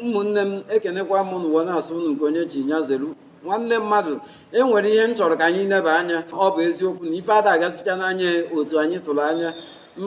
ụmụnne m ekenekwa m n'ụwa na-asụ unu nke onye chi nya zelu nwanne mmadụ e nwere ihe m chọrọ ka anyị neba anya ọ bụ eziokwu na ife ada agasịcha n'anya otu anyị tụrụ anya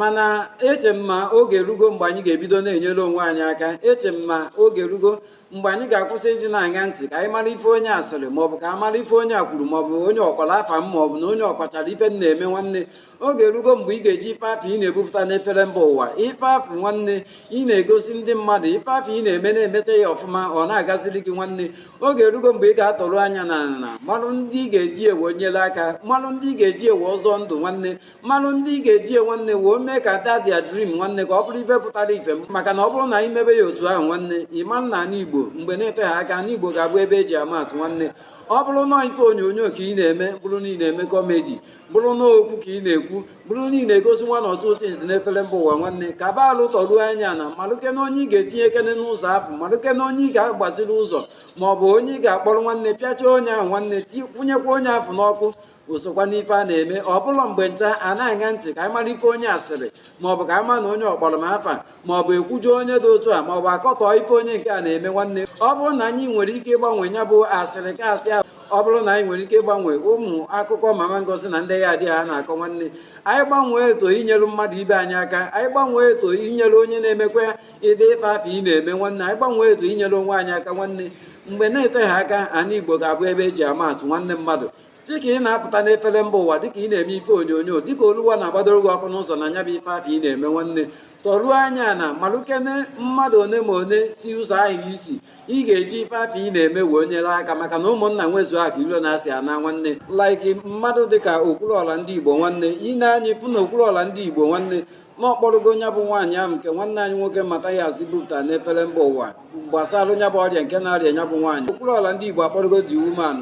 mana eche m ma oge erugo mgbe anyị ga-ebido na-enyere onwe anyị aka eche m ma oge erugo mgbe anyị ga-akwụsị ịdị na-aṅa ntị ka anyị mara ife onye a sịrị maọbụ ka a mara ife onye a kwuru maọbụ onye ọ kpọrọ afa m maọbụ na onye ọ kọchara ife m na-eme nwanne oge erugo mgbe ị ga-eji ife afụ ị na-ebupụta n'efere mba ụwa ife afụ nwanne ị na-egosi ndị mmadụ ife afụ ị na-eme na-emeta ya ọfụma ọ na-agaziri gị nwanne oge erugo mgbe ị ga-atọru anya ana malụ ndị ị ga-eji ya wee nyere aka malụ ndị ị ga-eji ya wee zọọ ndụ nwanne malụ ndị ị ga-eji ya wee nwanne wee mee ka that their dream nwanne ka ọ bụrụ ife pụtara ife maka na ọ bụrụ na anyị mebe ya otu ahụ nwanne ị ma na ala igbo mgbe na-eteghị aka ala igbo ga-abụ ebe e ji ama atụ nwanne ọ bụrụ na ife onyonyo ka ị na-eme bụrụ na ị na-eme comedy bụrụ na okwu ka ị na-ekwu bụrụ na ị na-egosi nwa na ọtụtụ nzi n'efere mba ụwa nwanne ka ba alụ tọruo anya ana malụkene onye ị ga-etinyekene n'ụzọ afụ malụkene onye ị ga-agbaziri ụzọ ma ọ bụ onye ị ga-akpọrọ nwanne pịacha onye ahụ nwanne kwụnyekwa onye afụ n'ọkụ o sokwa n'ife a na-eme ọ bụrọ mgbe ncha a na-aṅa ntị ka anyị mara ife onye a sịrị maọbụ ka anyị ma na onye ọ kpọrọ m afa maọbụ e kwujọọ onye dị otu a maọbụ a kọtọọ ife onye nke a na-eme nwanne ọ bụrụ na anyị nwere ike ịgbanwe ya bụ asịrị ka asị ahụ ọ bụrụ na anyị nwere ike ịgbanwe ụmụ akụkọ mama ngozi na ndị yard ya a na-akọ nwanne anyị gbanwee ya to inyere mmadụ ibe anyị aka anyị gbanwee ya to inyere onye na-emekwa ụdị ife afụ ị na-eme nwanne anyị gbanwee ya to inyere onwe anyị aka nwanne mgbe na-eteghị aka ala igbo ga-abụ ebe e ji ama atụ nwanne mmadụ dịka ị na-apụta n'efere mba ụwa dịka ị na-eme ife onyonyo dịka oluwa na-agbadoro gị ọkụ n'ụzọ na nya bụ ife afụ ị na-eme nwanne tọruo anya ana malụkene mmadụ one ma one si ụzọ ahụ isi ị ga-eji ife afụ ị na-eme wee nyere aka maka na ụmụnna nwezuo akụ ilo na asị anaa nwanne like mmadụ dịka okwuluọra ndị igbo nwanne i nee anya ị fụ na okwuluọra ndị igbo nwanne na ọ kpọrọgo nya bụ nwaanyị ahụ nke nwanne anyị nwoke Mathias bupụta n'efere mba ụwa gbasara nya bụ ọrịa nke na-arịa nya bụ nwaanyị okwuluọra ndị igbo akpọrọgo the woman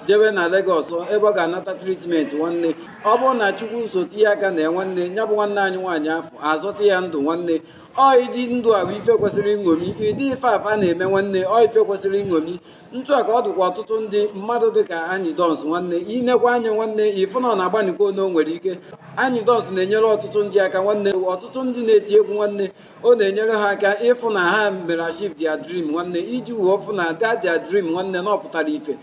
jewe na Lagos ebe ọ ga-anata treatment nwanne ọ bụrụ na Chukwu so tinye aka na ya nwanne ya bụ nwanne anyị nwaanyị afụ a zọta ya ndụ nwanne ọ ụdị ndụ a bụ ife kwesịrị nṅomi ụdị ife a fa na-eme nwanne ọ ife kwesịrị nṅomi ntụ a ka ọ dịkwa ọtụtụ ndị mmadụ dị ka Anyidons nwanne i nekwaa anya nwanne ị fụ na ọ na-agbanị ike one o nwere ike Anyidons na-enyere ọtụtụ ndị aka nwanne ọtụtụ ndị na-eti egwu nwanne ọ na-enyere ha aka ịfụ na ha mere achieve their dream nwanne iji wee fụ na that their dream nwanne na ọ pụtara ife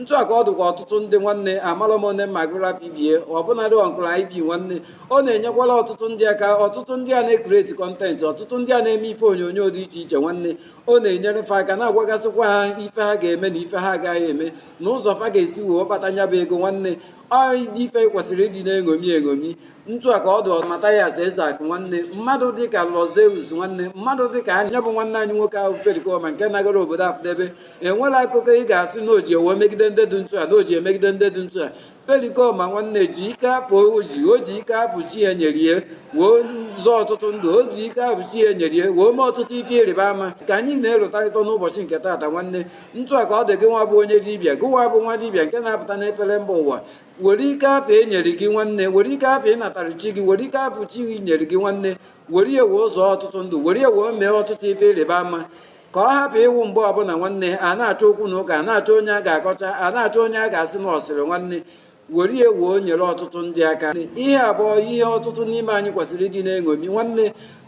ntụ a ka ọ dụkwa ọtụtụ ndị nwanne amarọ m one m ga-agụ rapụ ibe ya ọbụnadị uncle IP nwanne ọ na-enyekwara ọtụtụ ndị aka ọtụtụ ndị a na-ecreate content ọtụtụ ndị a na-eme ife onyonyo dị iche iche nwanne ọ na-enyere fa aka na-agwagasịkwa ha ife ha ga-eme na ife ha agaghị eme na ụzọ fa ga-esi wee kpata nya bụ ego nwanne ọ dị ife kwesịrị ịdị na-eṅomi eṅomi ntu a ka ọ dị Mathias Ezeakụ nwanne mmadụ dịka Lord Zeus nwanne mmadụ dịka nya bụ nwanne anyị nwoke ahụ Pericoma nke nagara obodo afụ debe enwela akụkọ ị ga-asị na o ji ya wee megide ndị dị ntu a na o ji emegide ndị dị ntu a Pericoma nwanne ji ike afụ o ji o ji ike afụ chi ya nyere ya wee zọọ ọtụtụ ndụ o ji ike afụ chi ya nyere ya wee mee ọtụtụ ife ịrịba ama ka anyị na-elotarịta n'ụbọchị nke taata nwanne ntu a ka ọ dị gị nwa bụ onye dibịa gị nwa bụ nwa dibịa nke na-apụta n'efere mba ụwa were ike afụ e nyere gị nwanne were ike afụ ị natara chi gị were ike afụ chi gị nyere gị nwanne were ya wee zọọ ọtụtụ ndụ were ya wee mee ọtụtụ ife ịrịba ama ka ọ hapụ ịwụ mgbe ọbụla nwanne a na-achọ okwu na ụka a na-achọ onye a ga-akọcha a na-achọ onye a ga-asị na ọ sịrị nwanne were ya wee nyere ọtụtụ ndị aka ihe a bụ ihe ọtụtụ n'ime anyị kwesịrị ịdị na-eṅomi nwanne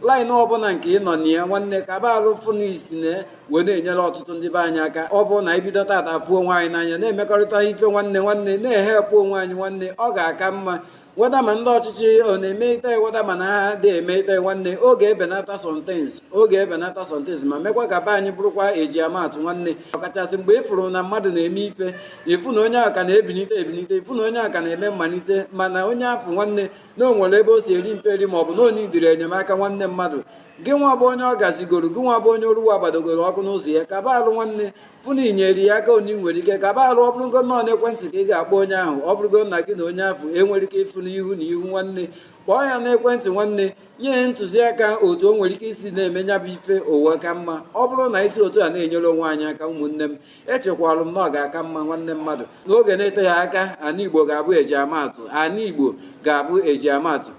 line ọbụla nke ị nọ na ya nwanne kaba arụ fụ na i si na ya wee na-enyere ọtụtụ ndị be anyị aka ọ bụrụ na e bido taata fụ onwe anyị n'anya na-emekọrịta ife nwanne nwanne na-ehelpụ onwe anyị nwanne ọ ga-aka mma whether ma ndị ọchịchị ọ na-eme ite whether ma na ha adị eme ite nwanne ọ ga-ebenata some things ọ ga-ebenata some things ma mekwa ka be anyị bụrụkwa eji ama atụ nwanne ọkachasị mgbe ị fụrụ na mmadụ na-eme ife ị fụ na onye ahụ ka na-ebinite ebinite ị fụ na onye ahụ ka na-eme mmalite mana onye afụ nwanne na o nwere ebe o si eri mperi ma ọ bụ na o needịrị enyemaka nwanne mmadụ gị nwa bụ onye ọ gazigoro gị nwa bụ onye Oluwa gbadogoro ọkụ n'ụzọ ya kaba alụ nwanne fụ na i nyere ya aka onye nwere ike kaba alụ ọ bụrụgo na ọ n'ekwentị ka ị ga-akpọ onye ahụ ọ bụrụgo na gị na onye afụ enwerọ ike ịfụ n'ihu na ihu nwanne kpọọ ya n'ekwentị nwanne nye ya ntụziaka otu o nwere ike isi na-eme nya bụ ife o wee ka mma ọ bụrụ na e si otu a na-enyere onwe anyị aka ụmụnne m echekwalụ m na ọ ga-aka mma nwanne mmadụ n'oge na-eteghị aka ana Igbo ga-abụ eji ama atụ ana Igbo ga-abụ eji ama atụ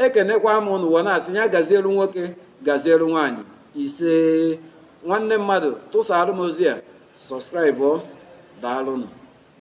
ekenekwa m ụnụ wee na-asị ya gazielu nwoke gazielu nwaanyị isee nwanne mmadụ tụsaalụ m ozi a subscribe daalụnụ